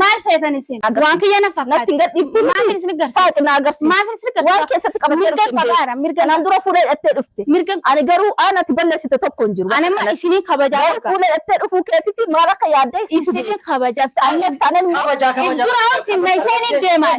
Maal feetan isin? Agarsiisa. Waan kiyya na Natti hin fakkaate. gadhiiftu miti. Maafin isin garsiisa? Saaxi na agarsiisa. Maafin isin garsiisa? Waan keessatti qabattee Mirga dhufte hin qabaara, beektu. mirga Kanaan qaba. dura fuula hidhattee dhufte. Mirga Ani garuu aan ati balleessite tokko hin jiru. Ani amma Kanatti. isiniin kabajaa Garuu argaa. fuula hidhattee dhufuu keetiifi maal akka yaadde ibsitu Isiniin kabajaa. Ammas taanaan immoo Kabajaa, kabajaa. Dura wanti meeshaaleen deeman.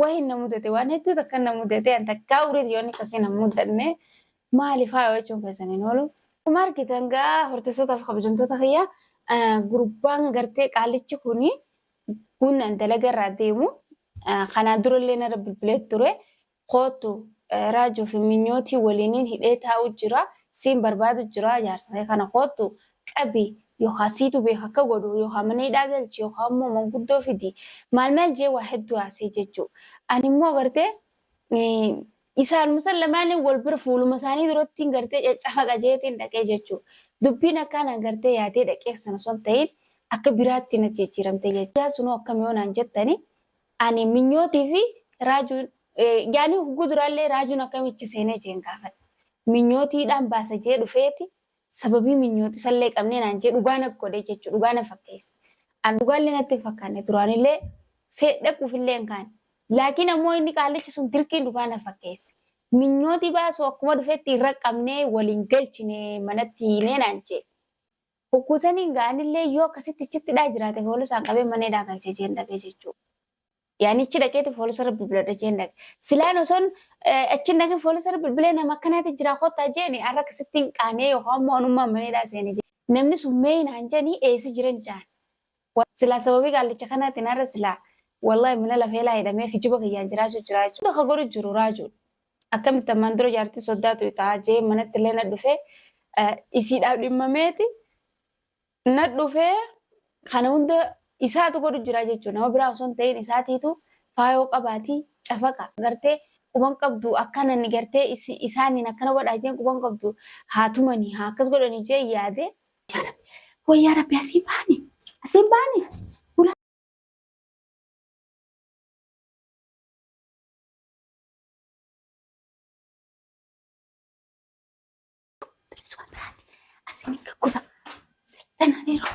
Wahin na mudate waan hedduu takka na mudate an takkaa ureeti yoonni akkasii na mudanne maali faaya jechuun keessan hin oolu. Akkuma argitan gaa hordoftoota fi kabajamtoota kiyya gurbaan gartee qaalichi kuni kun dalaga irraa deemu kanaan durallee narra bilbilee ture Koottu Raajuu fi Minyootii waliinin hidhee taa'uu jira. Siin barbaadu jira. Jaarsa kee kana koottu qabi. Yookaa siitu beeka akka godhu. Yookaa mana hidhaa galchi. Yookaa immoo manguddoo fidi. Maal maal jee waa hedduu haasa'e jechuu. Ani immoo gartee isaanuma san lamaaniin wal bira fuuluma isaanii durattiin gartee caccafaqa jeetiin dhaqee jechuu. Dubbiin akkaa naan gartee yaadee dhaqeef sana osoo hin ta'iin akka biraatti na jijjiiramte jechuu. Yaa sunoo akkami yoo naan jettani Ani minyootii fi raajuun yaani hugguu duraallee raajuun akkamichi seenee jeen gaafadhe. Minyootiidhaan baasa jee dhufeeti sababii minyootisallee qabnee naan jee dhugaa na godhe jechuudha. Dhugaa na fakkeesse. An dhugaallee natti hin fakkaanne duraanillee see dhaquufillee hin kaane. Laakiin ammoo inni qaallichi sun dirqiin dhugaa na fakkeesse. Minyootii baasuu akkuma dhufetti irra qabnee waliin galchine manatti hiinee naan jee. Hogguu saniin gaa anillee yoo akkasitti ichitti dhaa jiraate foolisaan qabee mana hidhaa galchee jeen dhaqee jechuu. Yaanichi dhaqeeti foolisa rabbi biladha jeen dhaqe. Silaan osoon achiin dhaqin foolisa rabbi bilee nama akkanaati jiraa kottaa jeeni har'a akkasitti hin qaanee yookaan immoo anummaan mana hidhaa seene jeen. Namni sun mee naan jeeni eessa jiran jaan. Wly silaa sababii qaallicha kanaatiin har'a silaa wly mana lafeelaa hidhamee kijiba kiyyaan jiraachuu jira jechuudha. Hunda ka godhu jiru raajuudha. Akkamitti ammaan dura jaartii soddaa tuyxaa jee manatti illee nadhufee isiidhaaf dhimmameeti nadhufee kana hunda isaatu godhu jira jechuudha. Nama biraa osoo hin ta'in isaatiitu faayoo qabaati cafaqa gartee quban qabdu akkanani gartee isaaniin akkana godhaa jeen quban qabdu haa tumanii haa akkas godhanii jee yaade Yaa Rabbi, way yaa Rabbi asiin baane, asiin baane. Bula. Turis waan biraati. Asiin hin gaggura. Seexanaan yeroo.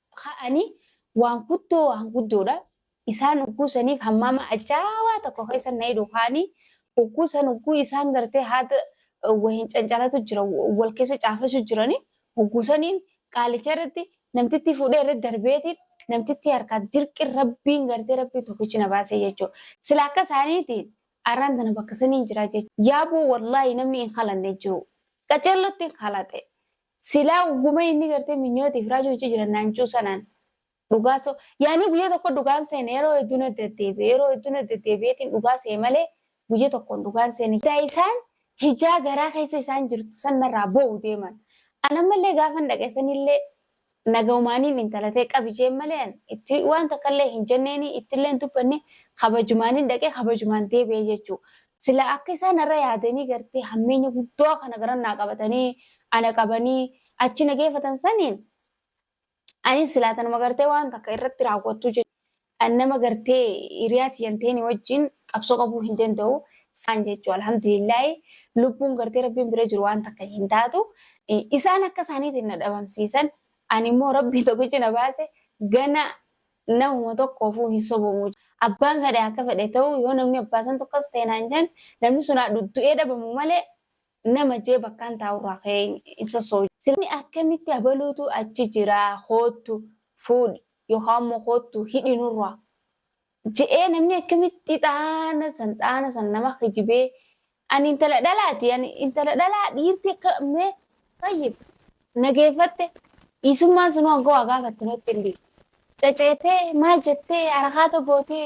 ka'ani waan guddoo waan guddoodha. Isaan ugguu saniif hammaama ajaawaa tokko keessa na hidhu kaani ugguu san ugguu isaan gartee haada wahin cancalatu jira wal keessa caafasu jirani ugguu saniin qaalicha irratti namtittii fuudhee irratti darbeeti namtittii harkaa dirqi rabbiin gartee rabbii tokkichi na baasee jechuudha. Sila akka isaaniiti arraan tana bakka saniin jira jechuudha. Yaaboo wallaahi namni hin halanne jiru. Qaceellotti hin halate. Silaa guma inni gartee minyootiif raajuu ichi jiran naancuu sanaan dhugaa so yaanii guyya tokko dhugaan seene yeroo hedduu na deddeebi'e yeroo hedduu na deddeebi'eetiin dhugaa se'e malee guyya tokkoon dhugaan seene daa isaan hijaa garaa keessa isaan jirtu san narraa boo'u deeman an ammallee gaafan dhaqe sanillee nagaumaaniin intala tee qabi jeen malee an itti waan takkallee hin jenneeni ittillee hin dubbanne kabajumaaniin dhaqe kabajumaan deebi'e jechuudha Silaa akka isaan narra yaadanii gartee hammeenya guddaa kana garan naa qabatanii ana qabanii achi na geeffatan saniin anis silaa tanuma gartee waan takka irratti raawwattu jechuudha. Nama gartee hiriyaa tiyyan ta'een wajjin qabsoo qabuu hin danda'u isaan jechuudha. Alhamdulillaahi lubbuun gartee rabbiin bira jiru waan takka hin taatu. Isaan akka isaaniitiin na dhabamsiisan ani immoo rabbiin tokkichi na baase gana Namuma tokkoofuu hin sobomu. Abbaan fedhe akka fedhe ta'uu yoo namni abbaa santu akkas ta'e naan jedhan namni sun haa du'ee dhabamu malee nama jee bakkaan taa'urraa ka'ee hin sosso'u. Silaa akkamitti abaluutu achi jira koottu fuudhi yookaan immoo koottu hidhi nurraa je'ee namni akkamitti xaana san xaana san nama kijibee Ani intala dhalaati. Ani intala dhalaa dhiirti akka mee tayyib nageeffatte dhiisummaan sunuu hanga waa gaafatte natti hin dhiisu. Caceetee maal jettee harakaata gootee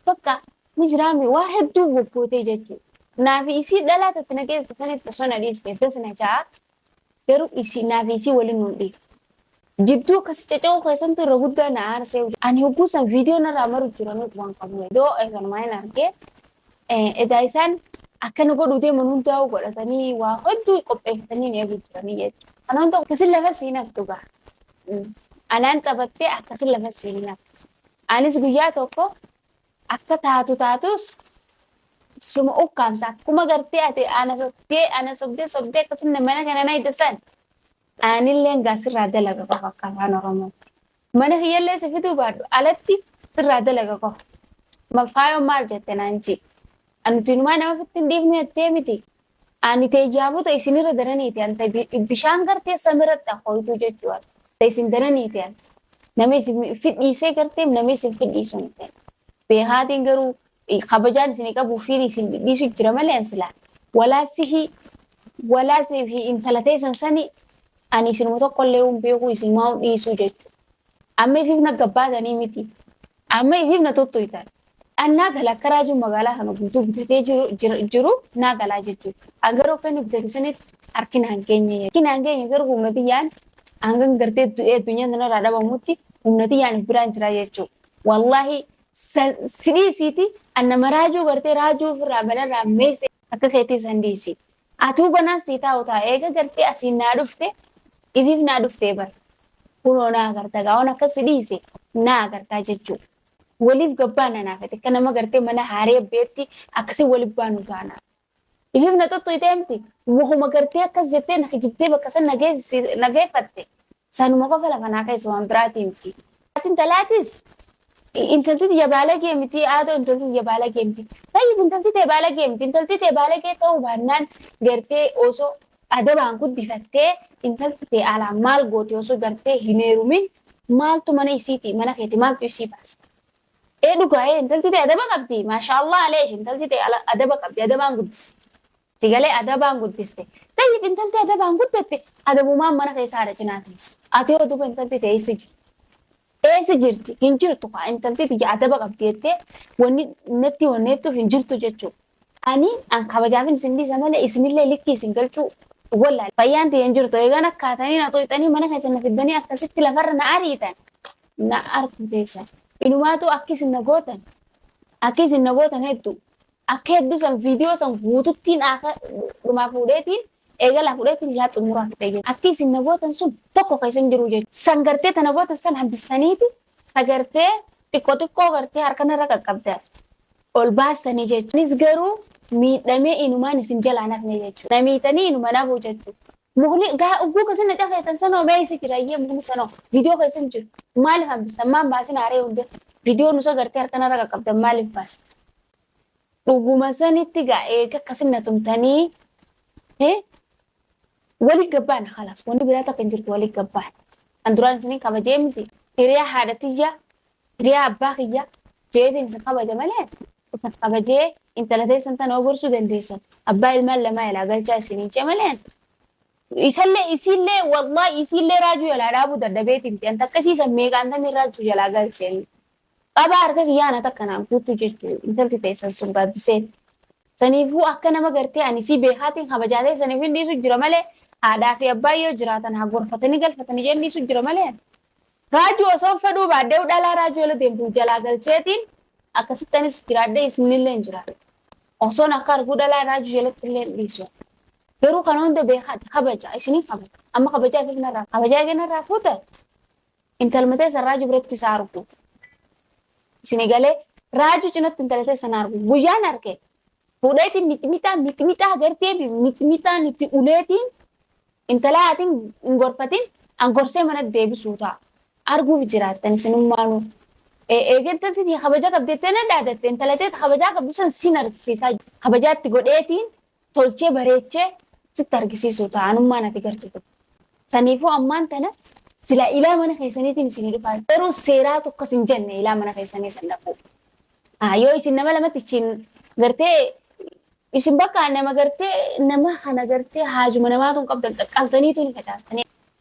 bakka ni jiraame waa hedduu goggootee jechuudha. Naafi isii dhalaa tatti nageessa sanitti osoo na dhiiste das na ja'a. Garuu isii naafi isii waliin nuun dhiif. Jidduu akkasi caca'uu keessantu irra guddaa na aarsee. Ani hogguu san viidiyoo narraa maru jira nuuf waan qabu. Doo eegalumaa hin argee. Edaa isaan akkana godhuu deeman hundaa'uu godhatanii waa hedduu qopheeffatanii nu eeguu jiranii jechuudha. Kana hunda akkasin lafa siin haftu gaa. Anaan taphattee akkasin lafa siin hin haftu. Anis guyyaa tokko Akka taatu taatus suma ukkaamsa akkuma gartee ati ana sobdee ana sobdee sobdee akkasuma mana kana na hidha san aanilleen gaa sirraa dalaga qofa akka afaan oromootti mana kiyyallee si fiduu baadhu alatti sirraa dalaga qofa mafaayoon maal jette naan jee anuti inumaa nama fitti hin dhiifne jettee miti Ani te jaabota isin irra daranii te'an, ta bishaan gartee samiratti akkoytuu jechu'a, ta isin daranii te'an, nama isin fidhiisee gartee nama isin fidhiisu hin te'an. Beekaatiin garuu kabajaan isin qabu fiin isin fidhiisu jira malee an silaa walaa sihi walaa sifi intala teessan sani ani isinuma tokkollee hin beekuu isinumaa hin dhiisuu jechu'a. Amma ifiif na gabbaatanii miti. Amma ifiif na tottoltan. An naa galaa akka raajuun magaalaa kana guutuu bitatee jiru, jira, jiru naa galaa jechuudha. An garuu akka inni bitate sanitti harki naan geenye. Harki naan geenye garuu humna tiyyaan hangan gartee du'ee addunyaa tanarraa dhabamutti humna tiyyaan if biraan jira jechuudha. Wallaahi san si dhiisiiti an nama raajuu gartee raajuu ofirraa balarraa meeyse akka keetii san dhiisi. Atuu banaan sii taa'u taa eega gartee asiin naa dhufte ifiif naa dhuftee bar kunoo naa agarta gaa'oon akka si dhiise naa agartaa jechuu waliif gabbaana naa fete akka nama gartee mana haaree beetti akkasii waliif baanu taana ifiif na xuxxuytee miti wahuma gartee akkas jettee na kijibdee bakka san na geessiis- na geeffatte sanuma qofa lafa naa keessa waan biraatii miti Ati intalaatis intalti tiyya baalagee miti haadha intalti tiyya baalagee miti. Tayyib intalti tee baalagee miti intalti tee baalagee ta'uu baannaan gartee osoo adabaan guddifattee intalti tee alaan maal goote osoo gartee hin heerumin maaltu mana isiiti mana keeti maaltu isii baase. Ee dhugaa ee intalti tee adaba qabdi maashaallah aleesh intalti tee ala- adaba qabdi adabaan guddiste. Si galee adabaan guddiste. Xayyib intalti adabaan guddatte adabumaan mana keessa haadha cinaa teessi. Ati yoo duba intalti tee eessa jirti? Eessa jirti? Hin jirtu kaa intalti tiyya adaba qabdi jettee wanni natti honneettuuf hin jirtu jechuu. Ani an kabajaafin isin dhiisa malee isinillee likkii isin galchuu wallaale. Fayyaan tiyya hin jirtu eegaan akkaatanii na xoyxanii mana keessa na fiddanii akkasitti lafarra na ariitan na arku teessan. Inumaatu akki isin na gootan akki isin na gootan hedduu. Akka hedduu san viidiyoo san guututtiin akka dhumaa fuudheetiin eegalaa fuudheetiin yaa xumuraa fidhee jechuudha. Akki isin na gootan sun tokko keessa hin jiru jechuudha. San gartee tana gootan san hambistaniiti ta gartee xiqqoo xiqqoo gartee harkan irra qaqqabdan ol baastanii jechuudha. Anis garuu miidhamee inumaan isin jalaa hin hafne jechuudha. Na miitanii inuma hin hafuu jechuudha. Mukni gaa ugguu keessa na cafeetan sanoo mee eessa jira iyyee mukni sanoo viidiyoo keessa hin jiru. Maaliif hambistan maan baasinaa ree hundee viidiyoo nusa gartee harkan irra qaqqabdan maaliif baastan. Dhuguma sanitti gaa eega akkasin na tumtanii hee wali gabbaan kalaas wanni biraa takka hin jirtu wali gabbaan. Kan duraan isinin kabajee miti hiriyaa haadha tiyya hiriyaa abbaa kiyya jeetiin isin kabaja malee isin kabajee intala teessan tana ogorsuu dandeessan abbaa ilmaan lamaa ilaa galchaa isinin cee malee isallee isiillee wallahi isiillee raajuu jalaa dhaabuu dadhabeetiin ta'an takka isiisan meeqaan tamii raajuu jalaa galcheen Qabaa harka kiyyaa ana takka naan fuuttu jechu intalti teessan sun gaaddiseen. Saniifuu akka nama gartee ani isii beekaatiin kabajaa ta'e saniif hin dhiisu jira malee haadhaa fi abbaa yoo jiraatan haa gorfatanii galfatanii jeen dhiisu jira malee ani. Raajuu osoon fedhuu baadheewu dhalaa raajuu ala deemtu jalaa galcheetiin akkasitti anis jiraadhee isinillee hin jiraadhu. Osoon akka arguu dhalaa raajuu jalatti illee hin dhiisu. Garuu kana hunda beekaati kabaja isiniin kabaja amma kabajaa kee kanarraa kabajaa kee kanarraa fuuta Intaluma teessan raajuu biratti isaa arguu. Isin galee raajuu cinatti intala teessan arguu. Guyyaan arke fuudheetiin mixmixaa mixmixaa gartee mixmixaan itti uleetiin intalaa atiin hin gorfatiin an gorsee mana deebisuu ta'a. Arguuf jiraattan isinummaanuu. Eeggatatti kabaja qabdeettee na dhaadatte intala teeta kabajaa qabdu san sin argisiisaa kabajaatti godheetiin tolchee bareechee sitti argisiisuu ta'a anummaan ati gartu kun. Saniifuu ammaan tana silaa ilaa mana keessaniitiin isinii dhufaa garuu seeraatu akkas hin jenne ilaa mana keessanii san dhaquu. Ah, Yoo isin nama lamatti ichiin gartee isin bakka nama gartee nama kana gartee haajuma namaa tun qabdan qaqqaltaniitu ni facaastanii.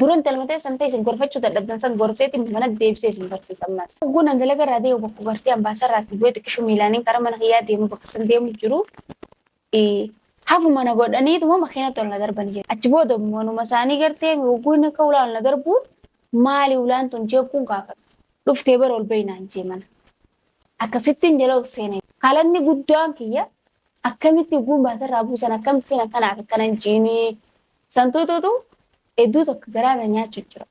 Duran dalmatee san ta'e isin gorfachuu dadhabdan san gorseeti mana deebisee isin barsiisa ammas. Hogguu nan dalaga irraa deemu bakka gartee ambaasarraa itti bu'ee xiqqishu miilaanin karaa mana kiyyaa deemu bakka san deemu jiru. Hafuma na godhaniituma makiinatti ol na darbani jedhe. Achi booda immoo numa isaanii gartee hogguu inni akka ulaan na darbu maali ulaan tun jeequun gaafadhe. Dhuftee bara ol bahi naan jee mana. Akkasittiin jala ol seenee. Kalaqni guddaan kiyya akkamitti hogguun baasarraa buusan akkamittiin akkanaaf akkanan jiinii Santuutuutu hedduu takka garaa na nyaachu jira.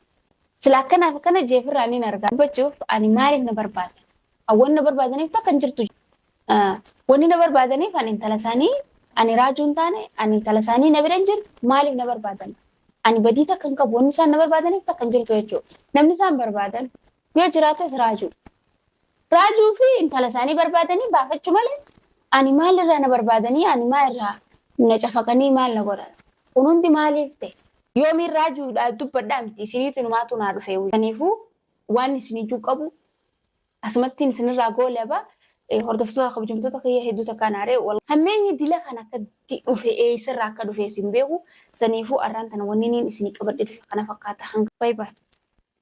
Sila akkanaaf akkana jeefirraa niin argaa. Dubbachuuf ani maaliif na barbaadan? Hawwan na barbaadaniif takka hin jirtu. Wanni na barbaadaniif ani intala isaanii ani raajuu hin taane ani intala isaanii na bira hin jirtu maaliif na barbaadan? Ani badii takka hin qabu wanni isaan na barbaadaniif takka hin jirtu jechuudha. Namni isaan barbaadan Yoo jiraates raajuudha. Raajuu fi intala isaanii barbaadanii baafachuu malee ani maal irraa na barbaadanii ani maa irraa na cafaqanii maal na godhan. Kun hundi maaliif ta'e? Yoomiin raajuudhaaf dubbadhaa miti isiniitu numaatu naa dhufee wayya. Kaniifuu waan isin ijuu qabu asumattiin isinirraa goolaba hordoftoota kabajamtoota kiyya hedduu takkaa naaree hammeenyi dila kan akkatti dhufe eessarraa akka dhufe isin beeku saniifuu arraan tana wanni niin isinii qabadhe bifa kana fakkaata hanga baay'ee.